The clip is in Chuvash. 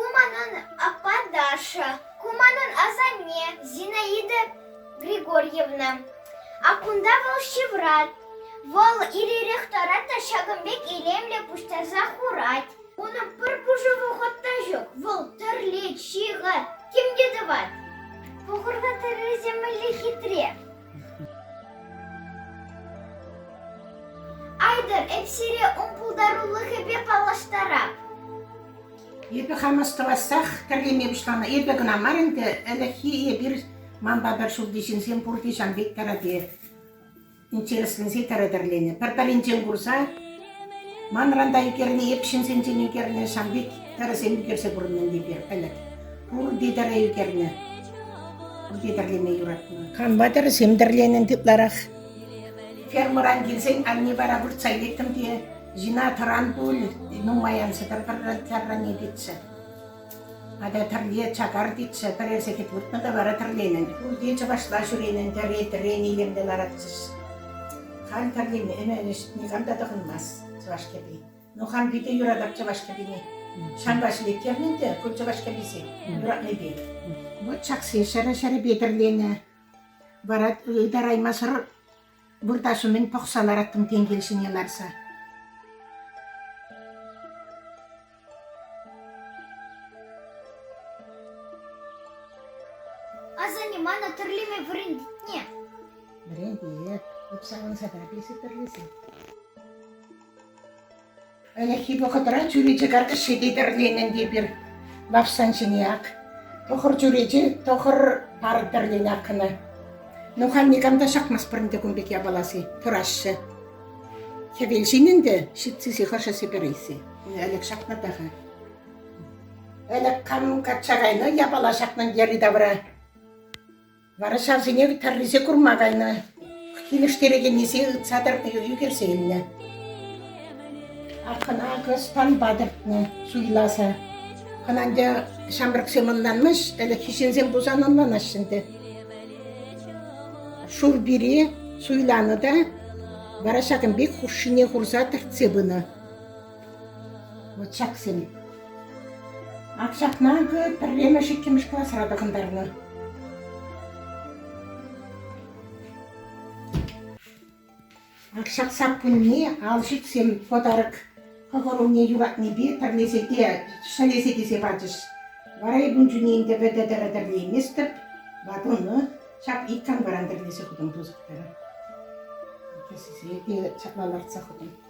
Ку манӑн аппа Даша, ку манӑн асанне Зинаида Григорьевна. А кунта вӑл ҫыврать. Вӑл ир-ирех таран та ҫакӑн пек илемлӗ пуҫтарса хурать. Унӑн пӗр пушӑ вӑхӑт та ҫук. Вӑл тӗрлет, ҫыхать, тем те тӑвать. Пӑхӑр та тӗррисем мӗнле хитре. Айтӑр, эп сире ун пултарулӑхӗпе паллаштарап. Эпӗ хам астӑвассах тӗрлеме пуҫланӑ. Эпӗ кӑна мар ӗнтӗ, ӗлӗкхи эпир манпа пӗр ҫурти ҫынсем пурте ҫан пек тӗрӗде. Интересленсе тӗрӗ тӗрленӗ. Пӗр-пӗринчен курса Манран та ӳкерни эп ҫынсенчен ӳкернӗ, ҫав пек тӗрӗсем ӳкерсе курнӑ ӗнтӗпе, пӗлӗт. Пурте тӗрӗ ӳкернӗ. Пурте тӗрлеме юратнӑ. Канма тӗрӗсем тӗрленӗ ытларах. Фермӑран килсен анне вара выртса илеттӗм те ҫина тӑран пуль, нумай ан сӗтӗр пӗр тӗррӗне тетчӗ. Атя тӗрле чакар тетчӗ, пӗрер сехет выртнӑ та вара тӗрленӗн. Пурте чӑвашла ҫӳренӗн тӗре-тӗрен илемлӗ ларатчӗҫ. Халь тӗрленӗ-ӗмӗнӗҫ никам та тӑхӑнмасть чӑваш кӗпи. Ну, хам питӗ юратап чӑваш кӗпине. Ҫавӑнпа ҫӗлеттернӗ ӗнтӗ ку чӑваш кӗписе юратнипе. Вӑт ҫаксен ҫӗрӗ-ҫӗрӗпе тӗрленӗ. Вара ытараймасӑр Выртаҫҫӗ мӗн пӑхса лараттӑм тенкел ҫине ларса. Асанне, мана тӗрлеме вӗрентетне. Вӗрентет. Эп савӑнса тӑрать, если тӗрлесе. Ӗлӗкхи вӑхӑтра чӳрече картише те тӗрленӗ эпир Вафсан ҫине ак. Тӑхӑр чӳрече, тӑхӑр пар тӗрленӗ ак ӑна. Ну, халь никам та ҫакмасть пӗр ӗнтӗ кун пек япаласи, пыраҫҫӗ. Хӗвел ҫин ӗнтӗ, ҫитсисі хӑшӗсі пӗрисі. Ӗлӗк ҫакнатах-и? Ӗлӗк кам качча кайнӑ япала ҫакнӑн йӗри-тавра. Вара ҫавсене тӑррисем курма кайнӑ, килӗштерекеннисем ытса тӑрни ӳкерсе илнӗ. Акӑна акӑ станпа тӗртнӗ суйласа. Хӑна ӗнтӗ ҫамрӑксем ӑнланмаҫ, ӗлӗкхи ҫынсем пулсан ӑнланаҫҫӗ ӗнтӗ. Шур пире суйланӑ та вара ҫакӑн пек хушшине хурса тӗртсе пынӑ. Вот ҫаксем. Ак ҫакна те пӗрремӗш, иккӗмӗш класра тӑхӑнтарнӑ. Ак ҫак саккунне алшиксем подарок хӑвӑруне юратнипе пӗрлесе те ҫӗлесе килсе пачӗҫ. Вара эпун чунне ӗнтӗ вӗтӗ тӗрӗ тӗрлейместӗп. Ватуну ҫак иккӗн варан тӗрлесе хутӑм тусӑптӑр. Ҫапла лартса хутӑм.